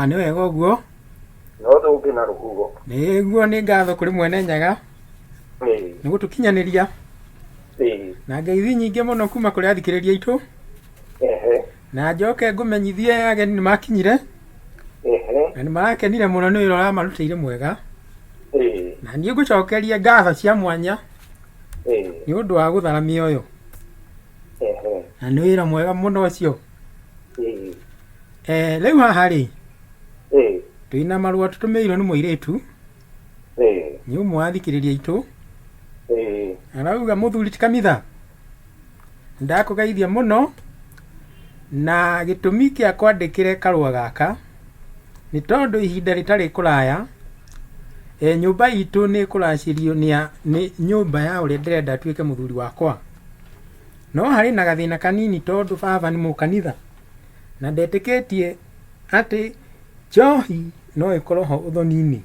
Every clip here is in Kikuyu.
Ah, nĩ wega ũguo no ndũngĩ na rũhuho nĩ guo nĩ ngatho kũrĩ mwene nyaga Ĩĩ, nĩ gũtũkinyanĩria ĩĩ, na ngeithi nyingĩ mũno kuma kũrĩ athikĩrĩria aitũ ehe, na njoke ngũmenyithie ageni nĩ makinyire ehe, na nĩ marakenire mũno nĩ wĩra ũramarutĩire mwega ĩĩ, na niĩ ngũcokerie ngatho cia mwanya ĩĩ, nĩ ũndũ wa gũthara mĩoyo ehe. na nĩ wĩra mwega mũno ũcio Ĩĩ. Eh, rĩu haha rĩ Ĩĩ. twĩna marũa tũtũmĩirwo nĩ mũirĩtu Ĩĩ. nĩ ũmwe wa thikĩrĩria itũ Ĩĩ. arauga mũthuri ti kamitha ndakũgeithia mũno na gĩtũmi kĩa kwandĩkĩre karũa gaka nĩ tondũ ihinda rĩtarĩ kũraya e, nyũmba itũ nĩ ĩkũracĩrio nĩ a- nĩ nyũmba ya ũrĩa ndĩrenda atuĩke mũthuri wakwa No harĩ na gathĩna kanini tondũ baba nĩ mũkanitha na ndetĩkĩtie atĩ njohi no ĩkorwo ho ũthoni-inĩ.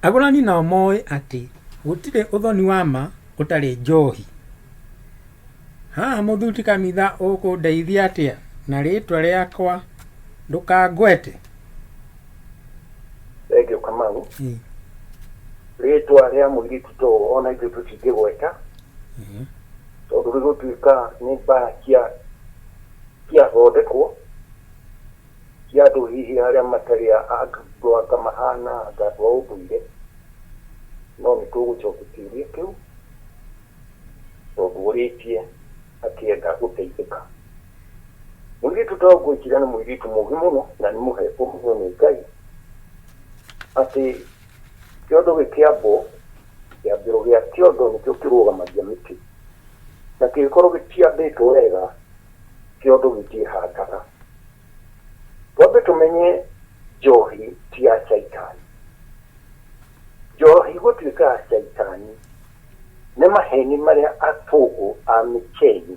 Agũrani nao moĩ atĩ gũtirĩ ũthoni wa ma ũtarĩ njohi. Haha mũthuri kanitha ũkũndeithia atĩa na rĩtwa rĩakwa ndũkangwete? Thengiũ Kamau. Rĩtwa rĩa mũirĩtu ta ũũ ona ithuĩ tũtingĩgweta. tondũ gĩgũtuĩka nĩ mbara cia ciathondekwo cia andũ hihi arĩa matarĩ a- a- andũ anga mahana anga andũ a ũndũire no nĩ tũgũcokia kĩũria kĩu tondũ ũrĩtie akĩenda gũteithĩka mũirĩtu ta ngwĩkira nĩ mũirĩtu mũgĩ mũno na nĩ mũhe ũhũthũ nĩ ngai atĩ kĩondo gĩkĩambwo Kĩambĩro gĩa kĩondo nĩkĩo kĩrũgamagia mĩtĩ, na kĩngĩkorwo gĩtiambĩtwo wega, kĩondo gĩtiĩhandaga. Twambe tũmenye njohi ti ya caitani. Njohi gũtuĩka ya caitani nĩ maheni marĩa athũngũ a Mĩkeni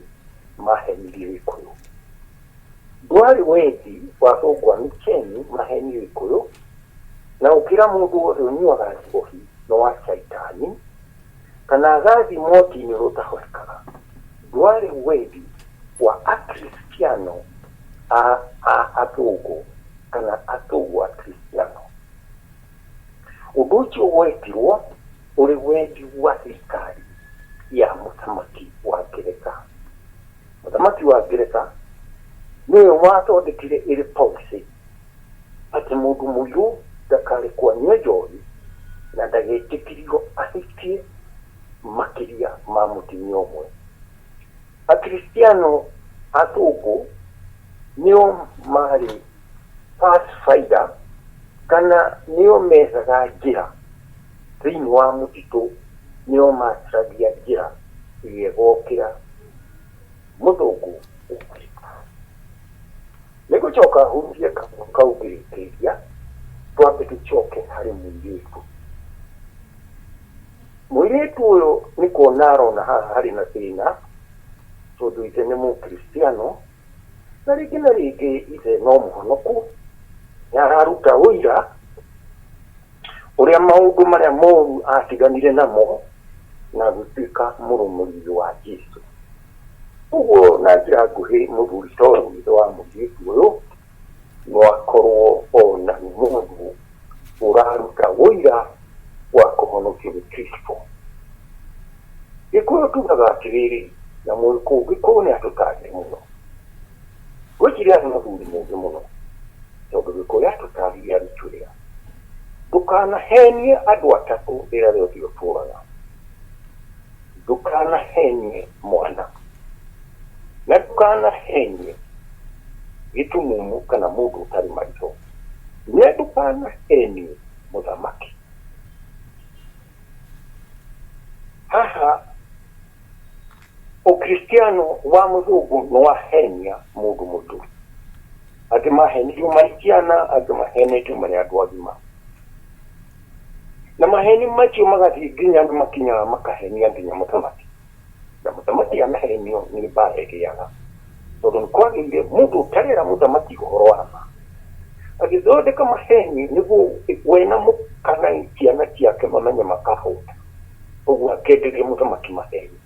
mahenirie Gĩkũyũ. Ndwarĩ wendi wa thũng'wanu cianyu mahenio ikũyũ, na gũkĩra mũndũ wothe ũnyuaga njohi nĩ wa Shaitani, kana agathi mwaki-inĩ ũrĩa ũtahorekaga. Ndwarĩ wendi wa Akristiano a a athũngũ kana athũng'ũ Akristiano. Ũndũ ũcio wetirwo ũrĩ wendi wa thirikari ya mũthamaki wa Ngeretha. Mũthamaki wa Ngeretha nĩwe wathondekire ĩrĩ policy atĩ mũndũ mũirũ ndakarekwo anyue njohi na ndagetĩkĩrio ahikie makĩria ma mũtumia ũmwe. Akristiano athũngũ nĩo maarĩ. Pathfinder, kana nĩo methaga njĩra thĩinĩ wa mũtitũ, nĩo macaragia njĩra ĩrĩa ĩgokĩra mũthũngũ ũgwĩka. Nĩ gũcoka hurunjie kaguo kau ngĩrĩkĩria, twambe tũcoke harĩ mũirĩtu. Mũirĩtu ũyũ nĩ kuona arona haha harĩ na thĩna, tondũ ithe nĩ Mũkristiano, Na rĩngĩ na rĩngĩ Ithe no mũhonoku nĩ araruta ũira ũrĩa maũndũ marĩa moru aatiganire namo na gũtuĩka mũrũmũrĩri wa Jesu. Ũguo na njĩra nguhĩ mũthuri ta ũyũ, ithe wa mũirĩtu ũyũ, no akorũo o na mũndũ ũraruta ũira wa kũhonokio nĩ Kristo. Gĩkũyũ tugaga atĩrĩrĩ, na mũĩ kũngĩkorũo nĩ andũ ta angĩ mũno. Ngwĩciria arĩ mũthuri mũũgĩ mũno, tondũ Gĩkũyũ atũtaarire arutwĩra, Ndũkanahenie andũ atatũ rĩrĩa rĩothe ũtũũraga. Ndũkanahenie mwana, na ndũkanahenie gĩtumumu kana mũndũ ũtarĩ maitho, na ndũkanahenie mũthamaki. Haha ũkristiano wa mũthũngũ nĩ wahenia mũndũ mũitũ. Angĩ mahenirio marĩ ciana, angĩ mahenetio marĩ andũ agima. Na maheni macio magathiĩ nginya nĩ makinyaga makahenia nginya mũthamaki. Na mũthamaki anahenio nĩ mbaara ĩgĩaga. Tondũ nĩ kwagĩire mũndũ ũtarera mũthamaki ũhoro wa ma. Agĩthondeka maheni nĩguo we na kana ciana ciake mamenye makahũta. Ũguo akenderia mũthamaki maheni.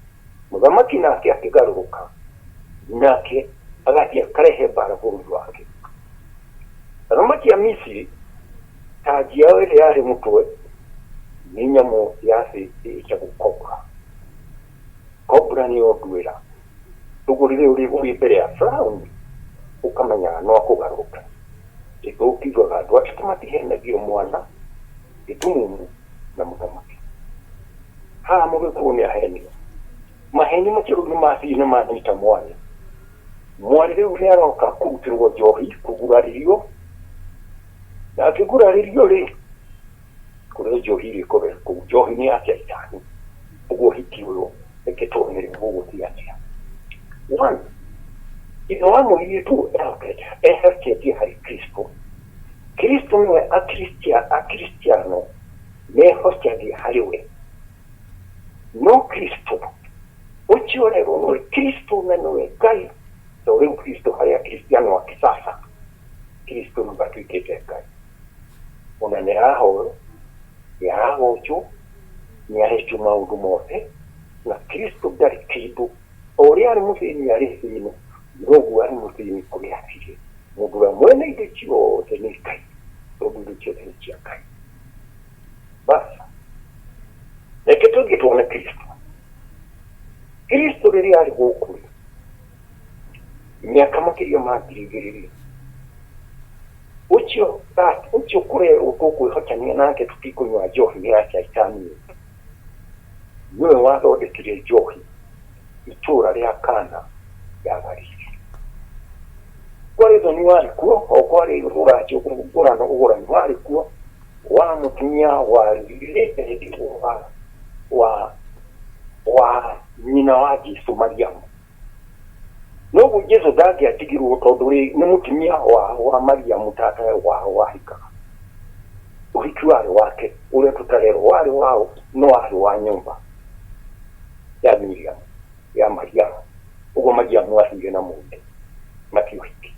Mũthamaki nake akĩgarũrũka, nake agathiĩ akarehe mbaara bũrũri wake. Athamaki a Misiri. Tanji yao ĩrĩa yarĩ mũtwe nĩ nyamũ ya thĩ ĩĩtagwo cobra. Cobra nĩyo nduĩra. Ũguo rĩrĩa ũrĩ mbere ya Firaũni ũkamenyaga no akũgarũre. Githĩ ũkiugaga andũ a Kĩrĩma tihenagio mwana, gĩtumumu na mũthamaki? Haha mũgĩkorwo nĩ aheni. Maheni macio rĩu nĩ mathiĩ nĩ manyita mwarĩ. Mwarĩ rĩu nĩ aroka kũrutĩrwo njohi, kũgurario. na akĩgurarĩrio-rĩ, kũrĩ njohi irĩkũbe kũu njohi-inĩ ya Shaitani, ũguo ũhiki ũyũ ĩkĩtũmĩrĩra gũgũtiga njĩra. One, ithe wa mũirĩtu ehokete, eherketie harĩ Kristo. Kristo nĩwe Akristia, Akristiano mehocagia harĩ we. No Kristo, ũcio rero nĩwe Kristo na nĩwe Ngai, to rĩu Kristo harĩ Akristiano a kisasa. Kristo nĩ matuĩkĩte Ngai. Ona nĩ arahoyo, nĩ aragocwo, nĩ arekio maũndũ mothe, na Kristo ndarĩ kĩndũ. O ũrĩa arĩ mũthĩni arĩ thĩinĩ, noguo arĩ mũthĩni kũrĩa atirĩ. Mũndũ ũrĩa mwene indo ciothe nĩ Ngai, tondũ indo ciothe nĩ cia Ngai. Basi, reke tũthiĩ tuone Kristo. Kristo rĩrĩa arĩ gũkũ rĩ, mĩaka makĩria ma ngiri igĩrĩ-rĩ, ũcio that ũcio kũrerwo tũkwĩhotania nake tũtikũnyua njohi nĩ ya caitani ũyũ nĩwe wathondekire njohi itũũra rĩa kana ya galili kwarĩ thoni warĩ kuo o kwarĩ ũracio ũgũrano ũgũrani warĩ kuo wa mũtumia wa wa wa nyina wa jesu mariamu noguo jesu ndangĩatigirwo tondũ rĩ nĩ mũtumia wa, wa mariamu tata wao wahikaga ũhiki warĩ wake ũrĩa tũtarerwo warĩ wao no warĩ wa nyũmba ya miriamu ya mariamu ũguo mariamu athire na mũndũ na ti ũhiki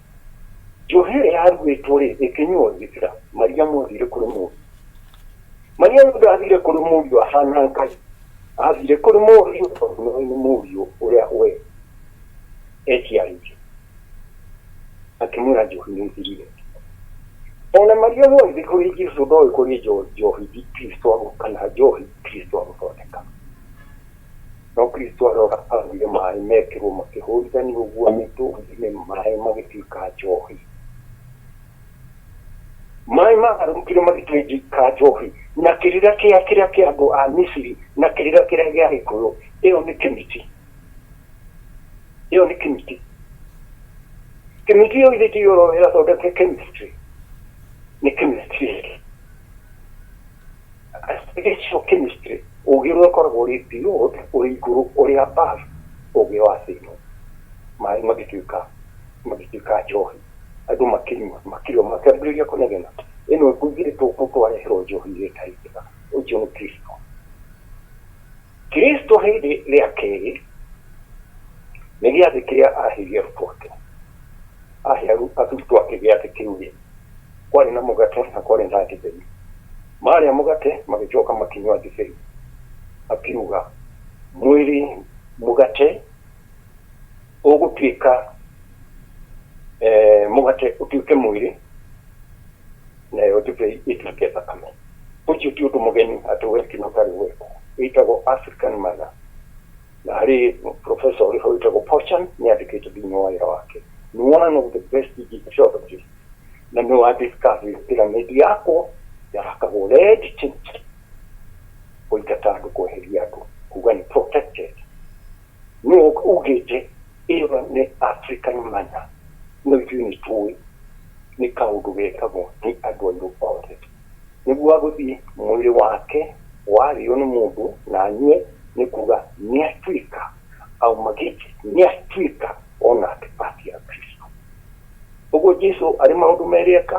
njohi ĩrĩa yaruĩtwo rĩ ĩkĩnyuo gĩkĩra mariamu athire kũrĩ mũndũ Mania mũndũ athire kũrĩ mũriũ ahana ngai athire kũrĩ mũriũ tondũ nĩ nĩ mũriũ ũrĩa we eciarĩire akĩmwĩra njohi nĩ ithirire ona maria mwathi kũrĩ jesu ndoĩ kũrĩ njo- njohi ici kristo agũ- kana njohi kristo agũthondeka no kristo arora athire maĩ mekĩrwo makĩhũrithania ũguo mĩtũngi-inĩ maĩ magĩtuĩka njohi Maĩ maagarũrũkire magĩtuĩka gĩcunjĩ kĩa njohi, na kĩrĩra kĩa kĩrĩa kĩa andũ a Misiri, na kĩrĩra kĩrĩa gĩa gĩkũyũ. Ĩyo nĩ Kĩmiti. Ĩyo nĩ Kĩmiti. Kĩmiti ĩyo ithĩ ti yo ĩrathondeka Chemistry? Nĩ Kĩmistry. Acidification chemistry, ũgĩ ũrĩa ũkoragwo ũrĩ below, ũrĩ igũrũ, ũrĩ above ũgĩ wa thĩ ĩno. Maĩ magĩtuĩka, magĩtuĩka njohi, andũ makĩnyua, makĩrĩa, makĩambĩrĩria kũnegena, ĩno ĩkũigĩrĩtwo gũkũ twareherwo njohi ĩrĩa ĩtarĩ njega, ũcio nĩ Kristo. Kristo hĩndĩ rĩa kerĩ nĩ gĩathĩ kĩrĩa aheire arutwo ake ahe arutwo ake gĩathĩ kĩu rĩ kwarĩ na mũgate na kwarĩ na ndibei marĩa mũgate magĩcoka makinywa ndibei akiuga mwĩrĩ mũgate ũgũtuĩka eh, mũgate ũtuĩke mwĩrĩ nayo ndibei ĩtuĩke thakame ũcio ti ũndũ mũgeni atĩ westino tarĩ weko wĩtagwo african mother na harĩ professor ũrĩ ho wĩtagwo pochan nĩ andĩkĩte thĩinĩ wa wĩra wake nĩ one of the best egyptologists na nĩ wa discovery pyramid yakwo yakagwo red tint kũingata andũ kweheria andũ kuga nĩ protected Ne ok ugeche ĩyo nĩ Afrika nĩ manya no ithuĩ nĩ tũĩ nĩ kaũndũ gekagwo nĩ andũ airũ othe nĩguo agũthiĩ mwĩrĩ wake warĩo nĩ mũndũ na anyue nĩ kuga nĩ atuĩka auma gĩche nĩ atuĩka onake part ya Kristo ũguo Jesu arĩ maũndũ merĩ eka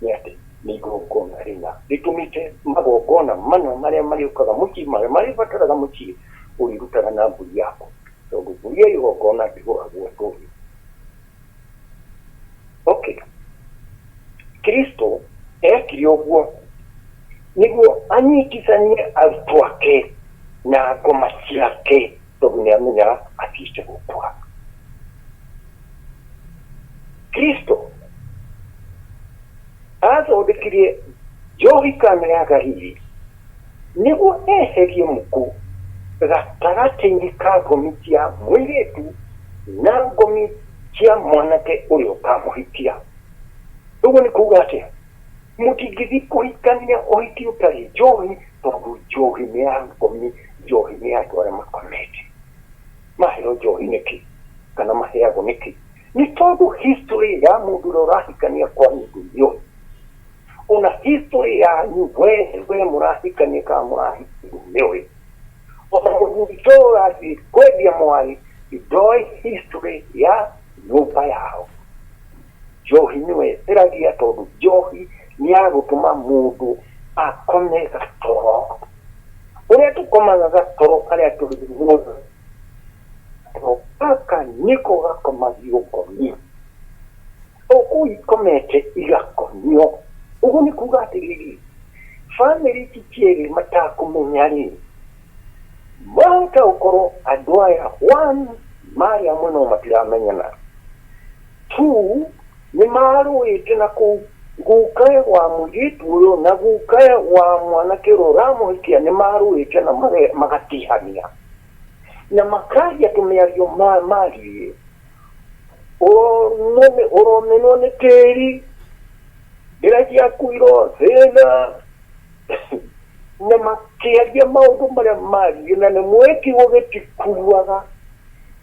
nĩ atĩ nĩ igongona rĩna rĩtũmĩte magongona mana marĩa marĩũkaga mũciĩ marĩa marĩbataraga mũciĩ ũrĩrutaga na mbũri yaku tondũ mbũri ya igongona ndĩgũragwo ndũrĩ okay kristo ekire ũguo nĩguo anyitithanie arutwo ake na ngoma ciake Tondũ nĩ amenyaga atiĩte gũkua. Kristo athondekirie njohi kana ya Galili nĩguo eherie mũkũ gatagatĩ-inĩ ka ngomi cia mũirĩtu na ngomi cia mwanake ũrĩa ũkamũhikia. Ũguo nĩ kuuga atĩa? Mũtingĩthiĩ kũhikania ũhiki ũtarĩ njohi tondũ njohi nĩ ya ngomi njohi nĩ ya andũ arĩa makomete maheo njohi nĩkĩ kana maheagwo nĩkĩ nĩ tondũ history ya mũndũ ũrĩa ũrahikania kwa nyũndũ njohi ona history yanyu we we mũrahikania kana mũrahikania nĩoĩ ona mũthuri ta ũyũ ũrathiĩ kwendia mwarĩ ndoĩ history ya nyũmba yao Njohi nĩwe ĩragia tondũ njohi nĩ ya gũtũma mũndũ akome gatoro. Ũrĩa tũkomaga gatoro arĩa tũrĩ muoyo, gatoro gaka nĩko gakomagio ngomio. O kũu ikomete igakomio. Ũguo nĩ kuuga atĩrĩrĩ, bamĩrĩ ici cierĩ matakũmenya-rĩ, mahota gũkorwo andũ aya one marĩ amwe no matiramenyana. Tu nĩ maarũĩte na kũu. Guka wa mũirĩtu ũyũ na guka wa mwanake ũrĩa ũramũhikia nĩ maarũĩte na magatihania. Na makaria tũmĩario ma mariĩ. Ũromenwo nĩ tĩri, njĩra ciaku irothĩna. na makĩaria maũndũ marĩa maaririe na nĩ mwĩkigo gĩtikuaga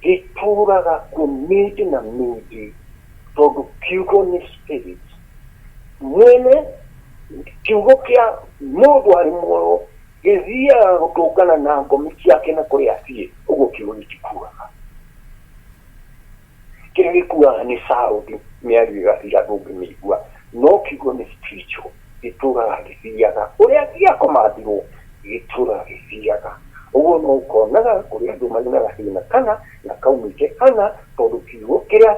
gĩtũũraga kuo mĩndĩ na mĩndĩ tondũ kiugo nĩ spirit mwene kiugo kĩa mũndũ arĩ muoyo gĩthiaga gũtũngana na ngomi ciake na kũrĩa athiĩ ũguo kiugo gĩtikuaga Kĩrĩa gĩkuaga nĩ sound, mĩario ĩgathira ndũngĩmĩigua. No kiugo nĩ spiritual, gĩtũũraga gĩthiaga. Ũrĩa angĩgĩa command-irwo, gĩtũũraga gĩthiaga. Ũguo no ũkonaga kũrĩ andũ marĩ na gathĩna kana na kaumĩte kana tondũ kiugo kĩrĩa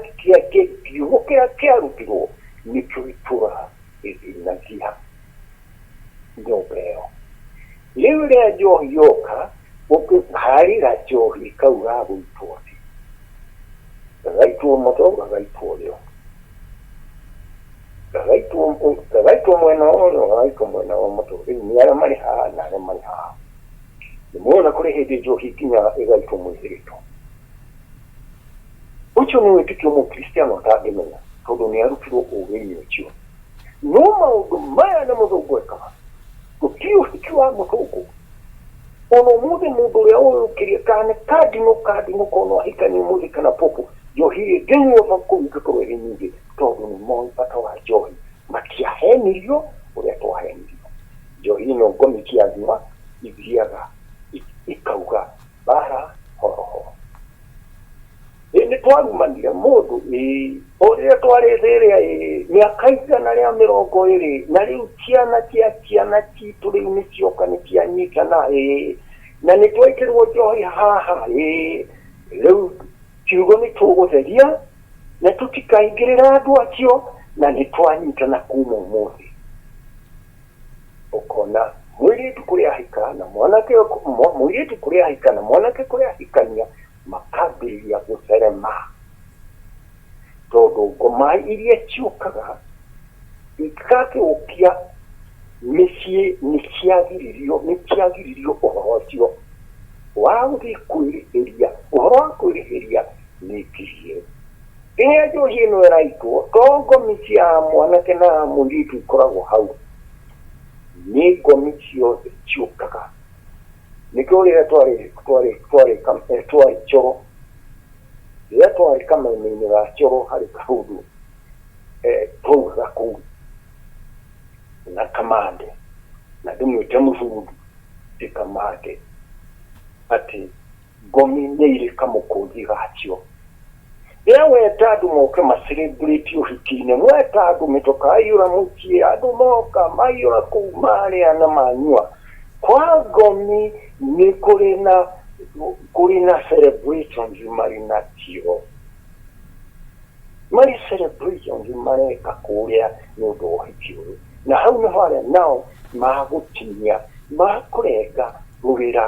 kiugo kĩrĩa kĩarutirwo nĩkĩo gĩtũũraga gĩthĩnagia nyũmba ĩyo. Rĩu rĩrĩa njohi yoka, ũkĩharĩra njohi kau gagũitwo thĩ, gagaitwo mũtwe, gagaitwo ũrĩo, gagaitwo mwena wa ũrĩo, gagaitwo mwena wa mũtwe. Rĩu nĩ arĩa marĩ haha na arĩa marĩ haha. Nĩ muona kũrĩ hĩndĩ njohi ĩkinyaga ĩgaitwo mũihĩrĩtwo. Ũcio nĩ wĩtĩkio mũkristiano ũtangĩmenya tondũ nĩ arutirwo ũgĩ-inĩ ũcio. No maũndũ maya nĩ mũthũngũ ekaga, mũtiũ ũhiki wa mũthũngũ. Ona ũmũthĩ mũndũ ũrĩa ũyũkĩria kana nĩ kandinũ kandinũ kono ahikanie ũmũthĩ kana popo, njohi rĩ ndĩnyuotha kũu ingĩkorwo ĩrĩ nyingĩ, tondũ nĩ moĩ bata wa njohi. Matiahenirio ũrĩa twahenirio. Njohi ĩno ngomi cia nduma ithiaga ikauga bara horo horo. Ĩ nĩ twarumanire mũndũ ĩ, o rĩrĩa twarĩ thĩrĩa ĩ, mĩaka igana rĩa mĩrongo ĩrĩ, na rĩu ciana cia ciana citũ rĩu nĩ cioka nĩ cianyitana ĩ, na nĩ twekĩrwo njohi haha ĩ, rĩu kiugo nĩ tũgũtheria, na tũtikaingĩrĩra andũ acio, na nĩ twanyitana kuma ũmũthĩ. Ũkona mũirĩtu kũrĩa ahika na mwanake, mũirĩtu kũrĩa ahika na mwanake kũrĩa ahikania, makambĩrĩria gũtherema, tondũ ngoma iria ciũkaga ingĩgagĩũkia mĩciĩ nĩ ciagiririo, nĩ ciagiririo ũhoro ũcio wa gũthiĩ kwĩrĩhĩria, ũhoro wa kwĩrĩhĩria nĩ ngirie. Rĩrĩa njohi ĩno ĩraitwo, to ngomi cia mwanake na mũirĩtu ikoragwo hau, nĩ ngomi ciothe ciũkaga. Nĩkĩo rĩrĩa twarĩ twarĩ twarĩ kam- eh, twarĩ coro rĩrĩa twarĩ kameme-inĩ ga coro harĩ kaũndũ eh, twaugaga kũu na kamande na ndĩmwĩte mũthuri ti kamande atĩ Ngomi nĩ irĩ kamũkũnji gacio. Rĩrĩa weta andũ moke ma celebrate ũhiki-inĩ, mweta andũ mĩtwe kaiyũra mũciĩ, andũ moka maiyũra kũu marĩa na manyua. Kwa Ngomi nĩ kũrĩ na kũrĩ na celebrations marĩ nacio. Marĩ celebrations mareka kũrĩa nĩ ũndũ wa ũhiki ũyũ. Na hau nĩho arĩa nao magũtinia, makũrenga rũrĩra.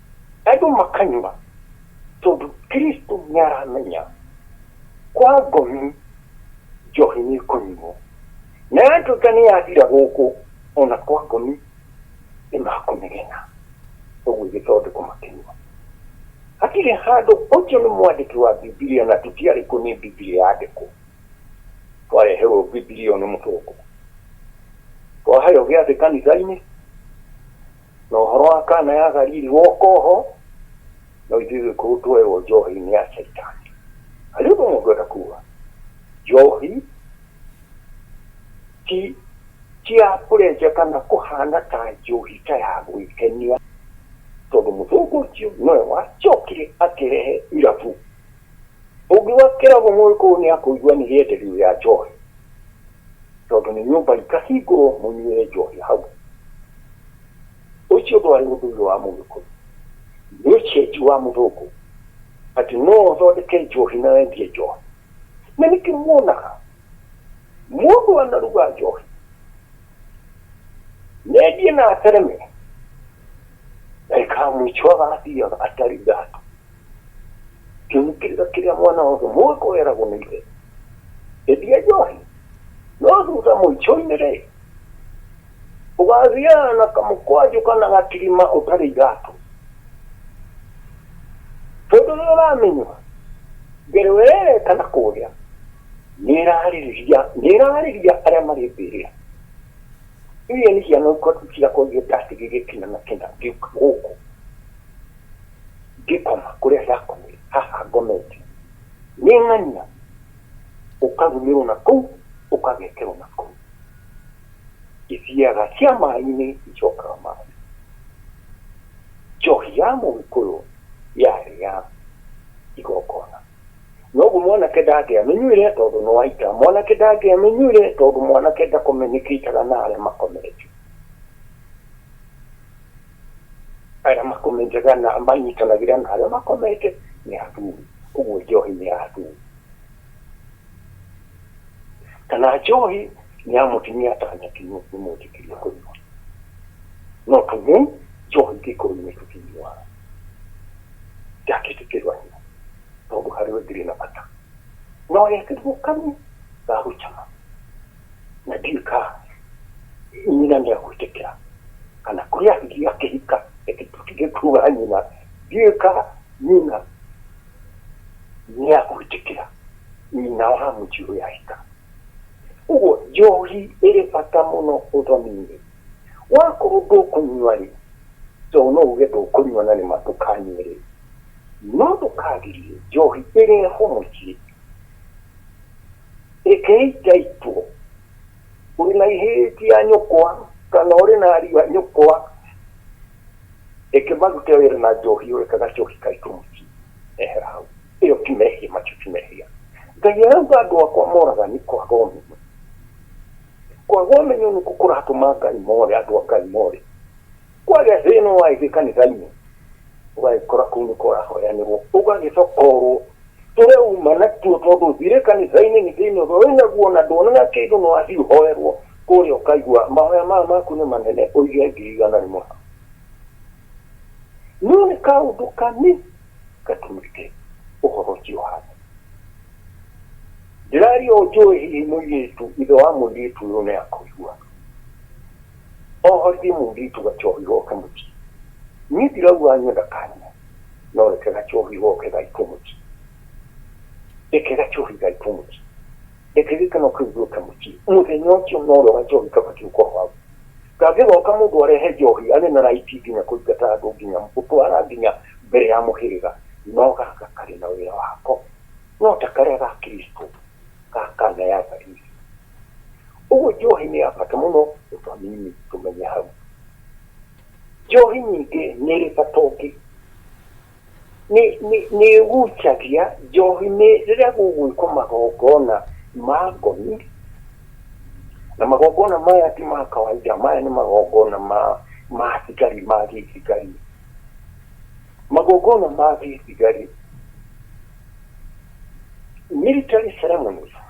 Andũ makanyua, tondũ Kristo nĩaramenya kwa ngomi njohi nĩĩkũnyuo, na yatuĩka nĩyathira gũkũ o na kwa ngomi nĩmakũmĩgena, ũguo ĩgĩthondekwo makĩnyua. Hatirĩ handũ ũcio nĩ mwandĩki wa Bibilia na tũtiarĩ kuo nĩ Bibilia yandĩkwo. Twareherwo Bibilia ĩyo nĩ mũtongoria. Twaheo gĩathĩ kanitha-inĩ, Na ũhoro wa Kana ya Galili woka oho, no ithuĩ gĩkũyũ twerwo njohi nĩ ya caitani. Harĩ ũndũ ũmwe ngwenda kuga, njohi ti ti ya kũrenja kana kũhana ta njohi ta ya gwĩkenia, tondũ mũthũngũ ũcio nowe wacokire akĩrehe irabu Ũngiuga kĩrabu mũĩ kũu nĩ akũigua nĩ rĩenderio rĩa njohi, tondũ nĩ nyũmba ikahingũrwo mũnyuĩre njohi hau. Ũcio ndwarĩ ũndũire wa Mũgĩkũyũ, nĩ ũcenjio wa Mũthũngũ atĩ no ũthondeke njohi na wendie njohi. Na nĩkĩo muonaga mũndũ anaruga njohi na endie na atereme, ndagĩka ya mũico agathiaga atarĩ iratũ. Kĩgitĩrĩro kĩrĩa mwana wothe mũĩ kũgeragwo nĩ ithe. Endia njohi, no thutha mũico-inĩ-rĩ, ũgathiaga na kamũkwanjũ kana gatirima ũtarĩ iratũ. Tondũ rĩrĩa ũramĩnyua, mbere ũrereta na kũrĩa, nĩĩrarĩrĩria nĩĩrarĩria arĩa marĩ mbĩrĩra. Iria nĩ ciana ciakwa iria ndatigĩire kĩna na kĩna ngĩũka gũkũ. Ngĩkoma kũrĩa ndakomire, haha ngomete, nĩ ng'ania ũkarumĩrwo na kũu, ũkagekerwo na kũu. Ithiaga cia maĩ-inĩ icokaga maĩ. Njohi ya Mũgĩkũyũ yarĩ ya igongona. Noguo mwanake ndangĩamĩnyuire tondũ nĩ wa ita. Mwanake ndangĩamĩnyuire tondũ mwanake ndakomenĩkĩtaga na arĩa makomete. arĩa makomenjaga na manyitanagĩra na arĩa makomete nĩ athuri ũguo njohi nĩ ya athuri kana njohi nĩ ya mũtumia atanakinywo nĩ mũnjĩkĩria kũnyua no tuge njohi gĩkũyũ-inĩ tũtinyuaga ndakĩtĩkĩrania tondũ harĩ we ndĩrĩ na bata no yekĩrirwo kanyi gagũcama na ndiũĩ ka nyina nĩ egwĩtĩkĩra kana kũrĩ athuri akĩhika ĩndĩ tũtige kuga nyina ndiũĩ ka nyina nĩ egwĩtĩkĩra nyina wa mũji ũrĩa ahika ũguo njohi ĩrĩ bata mũno ũthoni-inĩ wakorwo ndũkũnyua rĩ tondũ no uge ndũkũnyua na nĩma ndũkanyue rĩ no ndũkagirie njohi ĩrehwo mũciĩ Rekei njaitwo. Ũrĩ na ihĩtia nyũkwa kana ũrĩ na ariũ a nyũkwa, reke marute wĩra na njohi ĩyo, reka gacohi kaitwo mũciĩ. Ehera hau. Ĩyo ti mehia, macio ti mehia. Ngai arauga andũ akwa moraga nĩ kwaga ũmenyo. Kwaga ũmenyo nĩkuo kũratũma Ngai more, andũ a Ngai more. kwagĩa thĩna wa ithuĩ kanitha-inĩ ũgagĩkora kũu nĩ kũrahoyanĩrwo ũgagĩcokorwo tũreuma natuo tondũ thirĩ kanitha-inĩ nĩ thĩna ũrĩa wĩ naguo na nduonaga kĩndũ nĩ wathiĩ ũhoerwo kũrĩa ũkaigua mahoya maya maku nĩ manene ũige ngiri igana rĩmwe hau no nĩ kaũndũ kani gatumĩte ũhoro ũcio ũhana ndĩraria ũnjũĩ hihi mũirĩtu ithe wa mũirĩtu ũyũ nĩ akũigua Ohorire mũirĩtu gachohi goke mũciĩ. Niĩ ndirauga anyenda kanyina, no reke gachohi goke gaitwo mũciĩ. Reke gachohi gaitwo mũciĩ. Reke gĩkeno kĩu gĩũke mũciĩ. Mũthenya ũcio norĩo gachohi kabatiĩ gũkorwo hau. Kangĩgoka mũndũ arehe njohi arĩ na right nginya kũingata andũ nginya gũtwara nginya mbere ya mũhĩrĩga, no gaka karĩ na wĩra wako. No ta karĩa ga Kristo, ga kana ya Galili. Ũguo njohi nĩ ya bata mũno tũtũ anini tũmenye hau. Njohi nyingĩ nĩ ĩrĩ bata ũngĩ. Nĩ ĩgucagia, njohi nĩ rĩrĩa gũgwĩkwo magongona ma ngoni, na magongona maya ti ma kawainda, maya nĩ magongona ma thigari, ma gĩthigari. Magongona ma gĩthigari, military ceremonies.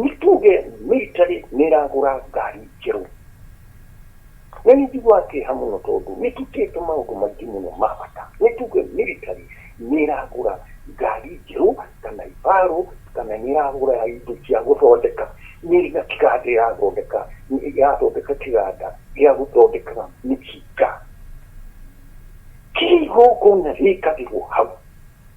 nĩ tuge mĩritarĩ nĩ ĩragũra ngari njerũ, na nĩ njiguaga kĩeha mũno tondũ nĩ ĩtutĩte maũndũ maingĩ mũno ma bata. Nĩ tuge mĩritarĩ nĩ ĩragũra ngari njerũ, kana ibarũ, kana nĩ ĩragũra indo cia gũthondeka, nĩ ĩrĩ na kĩganda ĩrathondeka, ĩrathondeka kĩganda gĩa gũthondekaga mĩcinga. Kĩrĩa igongona rĩkagĩrwo hau.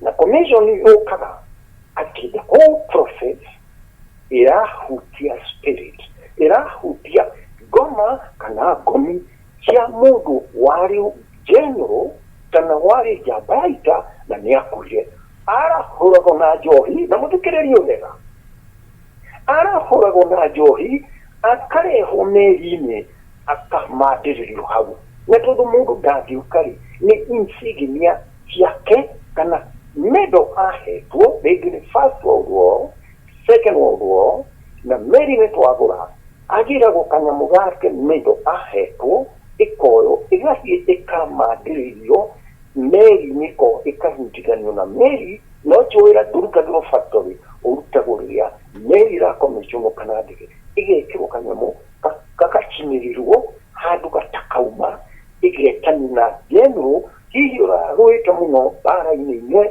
na commission yokaga ati the whole process irahutia spirit irahutia ngoma kana ngomi cia mundu wari general kana wari njambaita na nä akuire arahåragwo na njohi na må thikä rä rie wega arahåragwo na njohi akarehwo meri-inä ak kaf maa diri lu hagu. Na tudu mudu Daviu kari ne insignia cia ke kana medo ahetuo begini First World War, Second World War, na meri ne twagura agira go kanyamu gake medo ahetuo ikoyo igathie ikamandiririo meri-ini ko ikahunjithanio na meri no tio wira ndurutagirwo factory urutagwo riria meri irakomisionwo kana ndege igekirwo kanyamu gagacinĩrirwo handũ gatakauma, ĩgetani na General, hihi ũrarũĩte mũno mbara-inĩ imwe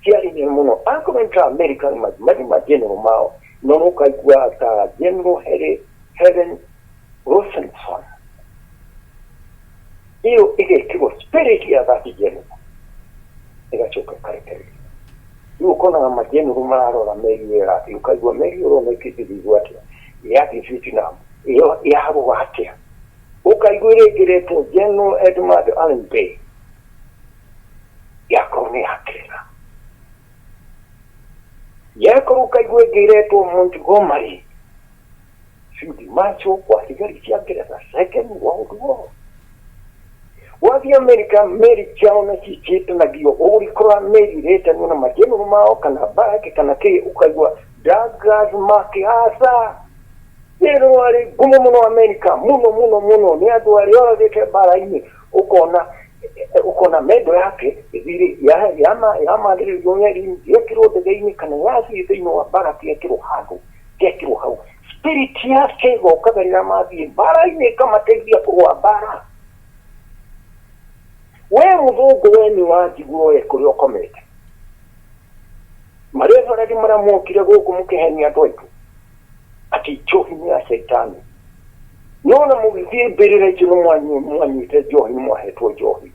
cia ihenya mũno, akorwo nĩ ta America nĩ mathiĩ mathiĩ ma General mao, no nĩ ũkaigua ta General Helen Rosenson. iyo igekĩrwo spirit ya that general ĩgacoka ĩkarekererio rĩu ũkonaga majeneru mararora meri ĩyo ĩrathiĩ ũkaigua meri ĩyo ũrona ĩkĩthithigwo atĩa yathiĩ vietnam ĩyo yarũa atĩa ũkaigua ĩrĩngĩrĩtwo general edmund allen bay yakorwo nĩ yakĩra yakorwo ũkaigua ĩngĩretwo montgomery Field Marshal wa thigari cia Ngeretha Second World War. Wathi Amerika meri ciao na cicĩtanagio ũgũrikora merirĩtanio na majenũrũ mao kana baraki kana kĩ ũkaigua Douglas MacArthur nĩrĩ warĩ ngumo mũno Amerika mũno mũno mũno nĩ andũ arĩa oragĩte mbara-inĩ ũkona ũkona mendo yake thirĩ yamandĩrĩrio meri-inĩ yekĩrwo ndege-inĩ kana yathiĩ thĩinĩ wa baraki yekĩrwo handũ gekĩrwo hau spirit yake ĩgokaga rĩrĩa mathiĩ mbara-inĩ ĩkamateithia kũrũa mbara we mũthũngũ we nĩ wanjiguo we kũrĩa ũkomete marĩa barari marĩa mokire gũkũ mũkĩhenia andũ aitũ ati njohi nĩ ya shaitani nona mũgĩthiĩ mbĩrĩra icio nĩ mwanyu- mwanyuĩte njohi nĩ mwahetwo njohi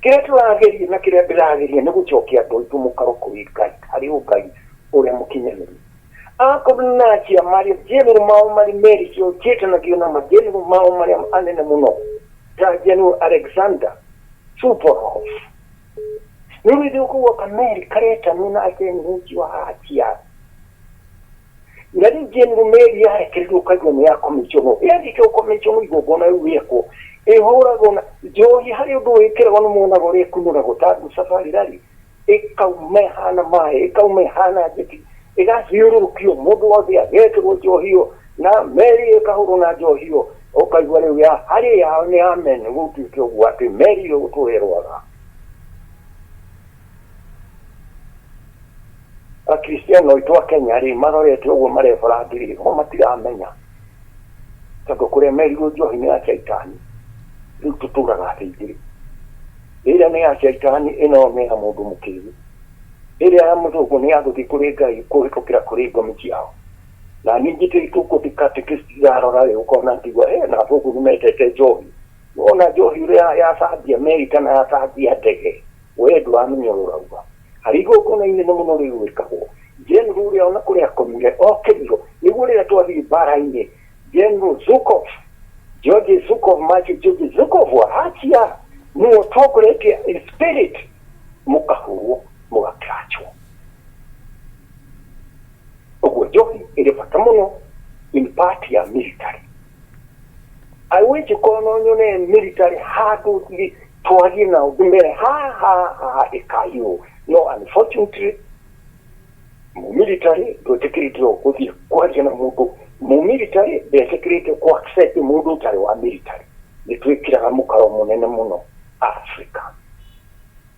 Kĩrĩa tũrageria na kĩrĩa ndĩrageria nĩ gũcokia andũ aitũ mũkaro kũrĩ Ngai, harĩ Ũngai ũrĩa mũkinyanĩru. Akorwo nĩ na acia marĩ general mao marĩ Mary o njĩtanagio na ma general mao marĩa anene mũno ta general Alexander Suvorov. Nĩ ũrĩthio kũu America aretanio na general ũcio wa acia. na ningĩ ndume ĩrĩa yarekereirwo kanyamũ ya kũmĩconwo ĩrĩkĩrwo kũmĩconwo igongona rĩu rĩekwo ĩhũragwo na njohi harĩ ũndũ wĩkĩragwo nĩ mwonaga ũrĩa ĩkunũragwo ta nduca barĩrarĩ ĩkauma ĩhana maĩ ĩkauma ĩhana njeti ĩgathiũrũrũkio mũndũ wothe agekĩrwo njohi ĩyo na meri ĩkahũrwo na njohi ĩyo ũkaigua rĩu ya harĩ yao nĩ amen gũtuĩke ũguo atĩ meri ĩyo gũtũherwaga akristiano aitũ a kenya rĩ marorete ũguo marebora ndĩ rĩ mo matiramenya tondũ kũrĩa merirwo njohi-inĩ ya caitani rĩu tũtũraga atĩ igĩrĩ ĩrĩa nĩ ya caitani ĩno nĩ ya mũndũ mũkĩgu ĩrĩa ya mũthũngũ nĩ ya gũthiĩ kũrĩ ngai kũhĩtũkĩra kũrĩ ngomi ciao na ningĩ tũitũ kũndĩ katekĩsti irarora rĩ ũkona ngiuga he na athũngũ nĩ mendete njohi wona njohi ũrĩa ya cambia meri kana ya cambia ndege Wee ndũramenya ũrĩa ũrauga. Harĩ igongona inene mũno rĩu rĩkagwo, General ũrĩa o na kũrĩa akomire okĩrirwo nĩguo rĩrĩa twathiĩ mbaara-inĩ, General Zhukov, George Zhukov, Major George Zhukov wa Russia, nĩwe ũtongoretie in spirit, mũkahũrwo, mũga clutchwo. Ũguo njohi ĩrĩ bata mũno in part ya military. I wish korwo no nyone military handũ thĩ twarie nao ndĩmere haha haha ĩkayũ no unfortunately mumilitary ndwetĩkĩrĩte gũthiĩ kwaria na mũndũ mumilitary ndetĩkĩrĩte kũ accept mũndũ ũtarĩ wa military nĩ twĩkĩraga mũkaro mũnene mũno Africa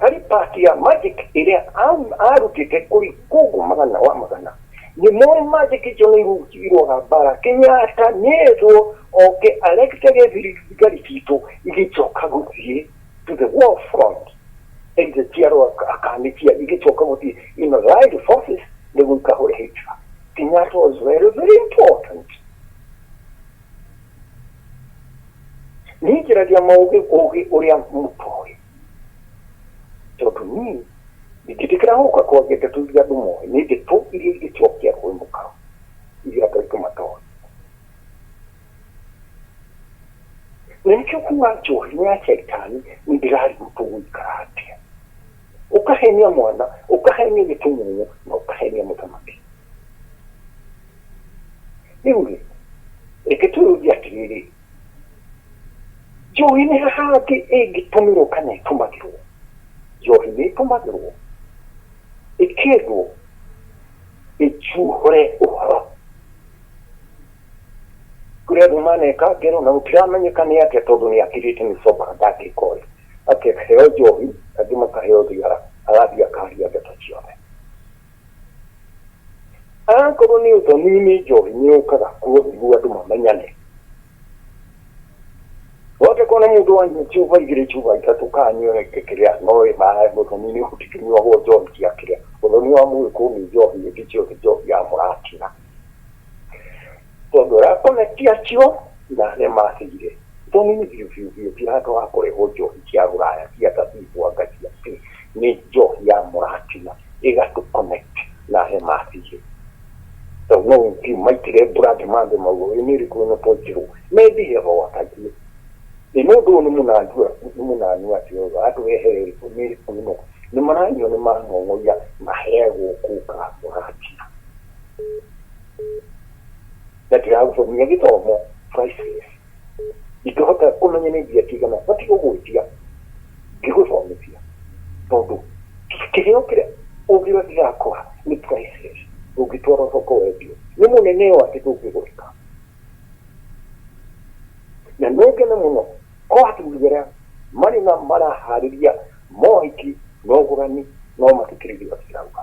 Harĩ part ya magic ĩrĩa arutĩte kũrĩ kũngũ magana wa magana, nĩ moĩ magic icio nĩ irũaga mbara. Kenyatta nĩ erwo oke aregete thigari citũ igĩcoka gũthiĩ to the war front, either njiarwo akanĩtia igĩcoka gũthiĩ in allied forces nĩguo ikahũre Hitler. Kenyatta was very very important. Niĩ njaragia maũgĩ ũgĩ ũrĩa mũtoĩ. tondũ niĩ ndingĩtĩkĩra gũka kwa ndeto iria andũ moĩ nĩ ndeto iria ingĩcokia kwĩ mũkaro iria andũ aitũ matoĩ na nĩkĩo kuga njohi nĩ ya caitani nĩ ndĩrarigwo tũgũikara atĩa ũkahenia mwana ũkahenia gĩtumumu na ũkahenia mũthamaki rĩu rĩ reke twĩyũrie atĩrĩrĩ njohi nĩ hahangĩ ĩngĩtũmĩrwo kana ĩtũmagĩrwo njohi nĩ ĩtũmagĩrwo ĩkĩndwo ĩcuhũre ũhoro kũrĩa andũ maneka ngero na gũtiramenyeka nĩ atĩa tondũ nĩ akirĩte nĩ soba ndangĩka ũyũ akĩheo njohi angĩ makaheo thigara agathiĩ akaria ndeto ciothe Akorwo nĩ ũthoni nĩ njohi nĩ yũkaga kuo nĩguo andũ mamenyane. Wothe kona mũndũ wanyua chuba igĩrĩ chuba ithatũ kana anyue rĩngĩ kĩrĩa no ĩ maĩ mũthoni nĩ ũtikĩnyuagwo njohi cia kĩrĩa. Ũthoni wa mũgĩkũyũ nĩ njohi ĩngĩ ciothe njohi ya mũratina. Tondũ Rakoni ti acio na arĩa matigire. Tondũ niĩ biũ biũ biũ Pilato wa kũrehwo njohi cia rũraya cia thabibũ anga cia kĩ, nĩ njohi ya mũratina ĩgatũ connect na arĩa matigire. Tondũ no ũthiĩ ũmaitĩre mbura thĩ mambe mauge ĩĩ nĩ ĩrĩkũ ĩno twaitĩrwo? Methire ho watariĩ. Ĩĩ mũndũ ũyũ nĩ mũnandu nĩ mũnanu atĩa ũyũ atũrehere ĩrĩkũ nĩ ĩrĩkũ ĩno? Nĩ maranyua nĩ mang'ong'oia maheagwo kũka mũratina. na ndiragũcomia gĩthomo priceless ingĩhota kũmenya nĩ mbia cigana batiĩ gũgwĩtia ngĩgũthomithia tondũ kĩheo kĩrĩa ũngĩra gĩgakwa nĩ priceless ũngĩtwara thoko wendio nĩ mũnene ũũ atĩ ndũngĩgũrĩka na nĩ ngene mũno ko athuri arĩa marĩ na maraharĩria mohiki na ũgũrani no mathikĩrĩrie ũrĩa cirauga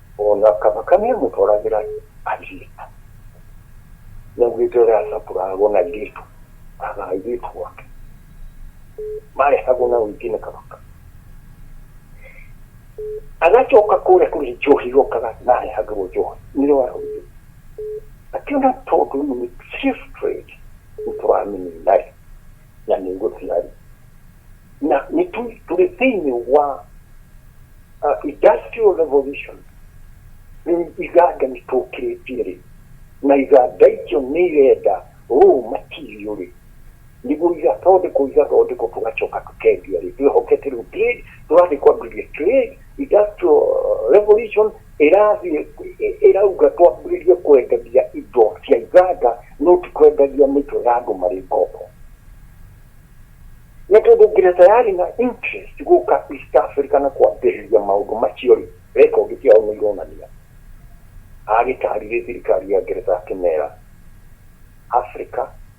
Ona kana kani amũtwaragĩra airĩtu, nĩaugĩte ũrĩa acakũragwo na airĩtu, kana airĩtu ake marehagwo na ũingĩ nĩ Kabaka, agacoka kũrĩa kũrĩ njohi okaga na arehagĩrwo njohi, nĩrĩo araugire atĩ ona tondũ nĩ slave trade nĩtũramĩnina-rĩ, na nĩ guo ciarĩ na nĩ tũrĩ thĩinĩ wa uh, industrial revolution rĩu iganda nĩ tũkĩrĩtie rĩ na iganda icio nĩ irenda rũũ matirio rĩ nĩguo igathondekwo igathondekwo tũgacoka tũkendia rĩ twĩhokete rĩu trade tũrathiĩ kwambĩrĩria trade industrial revolution ĩrathiĩ ĩ- ĩrauga twambĩrĩrie kwendagia indo cia iganda no ti kwendagia mĩtwe ya andũ marĩ ngombo nĩ tondũ nginya tayari na interest gũka east africa na kwambĩrĩria maũndũ macio rĩ rekondi ciao nĩ ironania agĩtarire thirikari ya ngeretha akĩmera africa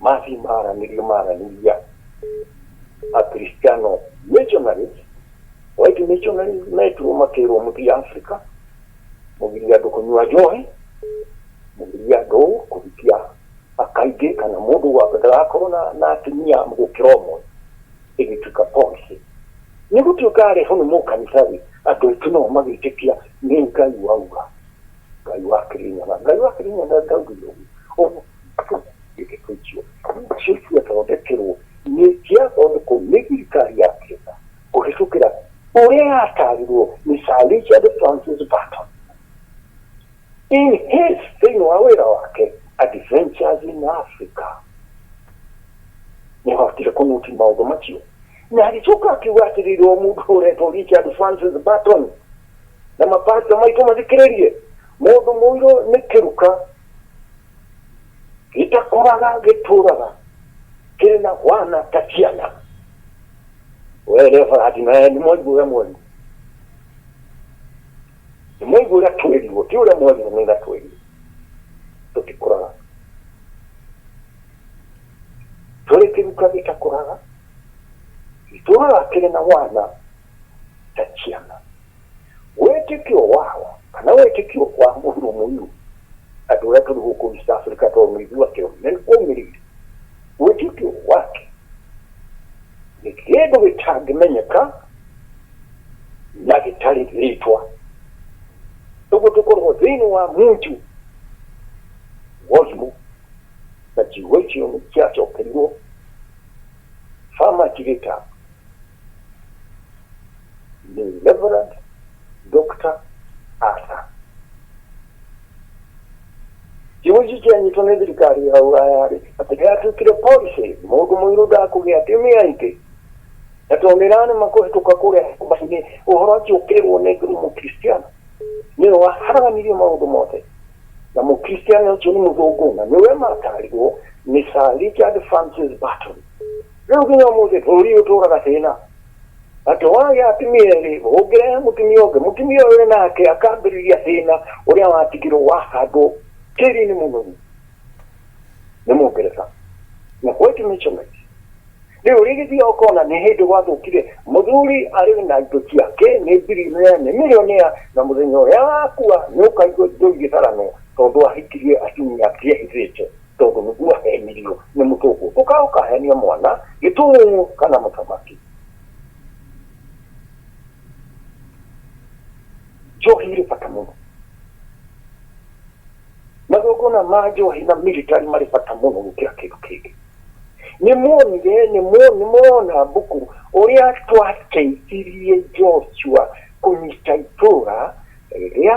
Matthew maaranĩrie maaranĩria a Kristiano missionaries, white missionaries metirwo makĩrwo mũthiĩ Africa, mũgirie andũ kũnyua njohi, mũgirie andũ kũhikia akaingĩ kana mũndũ wa- ndagakorwo na- na atumia gũkĩra ũmwe ĩgĩtuĩka policy nĩ gũtuĩka arehwo nĩ mũkanitha-rĩ andũ aitũ nao magĩtĩkia nĩ ngai wauga ngai wa kĩrĩnyaga ngai wa kĩrĩnyaga ndaugire ũguo Ũguo- ĩgĩkũnjio Jesu athondekerwo nĩ kĩathondekwo nĩ thirikari ya Kenya kũhĩtũkĩra ũrĩa yatarirwo nĩ Sir Richard Francis Burton in his thĩinĩ wa wĩra wake Adventures in Africa nĩ wahotire kũnyuti maũndũ macio na agĩcoka akiuga atĩrĩrĩ o mũndũ ũretwo Richard Francis Burton na mapasta maitũ mathikĩrĩrie mũndũ mũirũ nĩ kĩruka gĩtakoraga gĩtũraga kĩrĩ na hwana ta ciana were barati na nĩ mwaigua ũrĩa mwaria nĩ mwaigua ũrĩa twerirwo ti ũrĩa mwaria nĩ ũrĩa twerirwo tũtikũraga tũrĩ kĩruka gĩtakũraga itũraga kĩrĩ na hwana ta ciana wĩtĩkio wao kana wĩtĩkio wa mũndũ mũirũ andũ arĩa tũrĩ gũkũ East Africa tondũ nĩ ithuĩ ateo na nĩ kũmĩrĩire wĩtĩkio wake nĩ kĩndũ gĩtangĩmenyeka na gĩtarĩ rĩtwa ũguo tũkoragwo thĩinĩ wa munju wozimo na kiugo icio nĩ kĩacokerirwo famacirĩta the Reverend Dr. Arthur. Kiuji kĩa nyitwo nĩ thirikari ya Uraya-rĩ, atĩ gĩatuĩkire policy, mũndũ mũirũ ndakũgĩa atumia aingĩ. Na tondũ nĩ ranĩma kũhĩtũka kũrĩa nyũmba-inĩ, ũhoro ũcio ũkĩrwo nĩ Nguru Mũkristiano. Nĩwe waharanirie maũndũ mothe. Na Mũkristiano ũcio nĩ mũthũngũ, na nĩwe matarirwo nĩ Sir Richard Francis Burton. Rĩu nginya ũmũthĩ bũrũri ũyũ ũtũraga thĩna. Atĩ wagĩa atumia erĩ, ũngĩrehe mũtumia ũngĩ, mũtumia ũyũ wĩ nake akambĩrĩria thĩna ũrĩa watigirwo wahandwo tĩri-inĩ mũnoru nĩ Mũngeretha. Na white measurement. Rĩu ũrĩgĩthiaga ũkona nĩ hĩndĩ gwathũkire, mũthuri arĩ na indo ciake, nĩ birionea, nĩ mirionea, na mũthenya ũrĩa agakua nĩ ũkaigua indo igĩtharanwo tondũ ahikirie atumia angĩ ehithĩte. tondũ nĩguo ahenirio nĩ mũtũkũ ũka ũkahenia mwana gĩtũng'ũ kana mũthamaki njohi irĩ bata mũno magongona ma njohi na military marĩ bata mũno gũkĩra kĩndũ kĩngĩ nĩ muonire nĩ mu- nĩ murona mbuku ũrĩa twateithirie joshua kũnyita itũũra rĩrĩa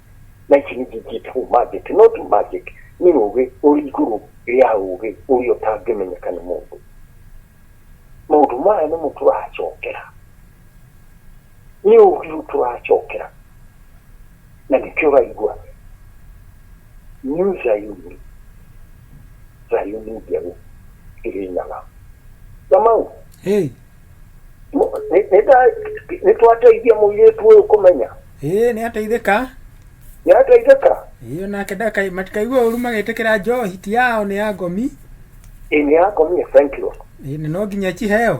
Night ni jinjit who magic not magic nĩ rũgĩ ũrĩ igũrũ rĩa ũgĩ ũrĩa ũtangĩmenyeka nĩ mũndũ maũndũ maya nĩmo tũracokera nĩ ũgĩ ũyũ tũracokera na nĩkĩo ũraigua new zayuni zayuni njerũ ĩrĩ nyaga na mau Hey, nĩ twateithia mũirĩtu ũyũ kũmenya ĩĩ nĩ ateithĩka nĩ ateithĩka ĩĩ onake ndakai matikaigue ũru magĩtĩkĩra njohi ti yao nĩ ya ngomi ĩĩ nĩ yakomie thank you ĩĩ na no nginya ĩkiheo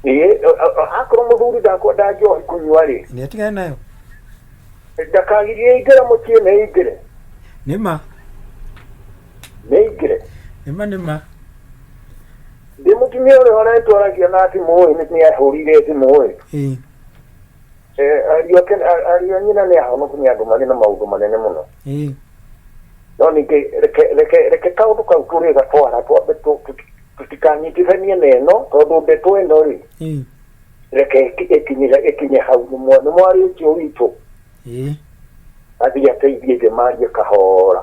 ĩĩ akorwo mũthuri ndakwenda njohi kũnyua rĩ nĩ atigane nayo ndakagirie ingĩre mũciĩ nĩ ingĩre nĩ ma nĩ ingĩre nĩ ma nĩ ma Ndĩ mũtumia ũrĩa ũretwo aragia na thimũ ĩ nĩ nĩ ahũrire thimũ ĩ ĩ Eh, ariũ ake a- ariũ a nyina nĩ ahonoku nĩ andũ marĩ na maũndũ manene mũno ĩ no ningĩ reke reke reke kaũndũ kau tũrĩ gatwara twambe tũ- tũ- tũtikanyitithanie na ĩno tondũ ndeto ĩno rĩ ĩ reke ĩki- ĩkinye ĩkinye hau nĩ mwa- nĩ mwarĩ ũcio witũ ĩ athiĩ ateithie njemarie kahora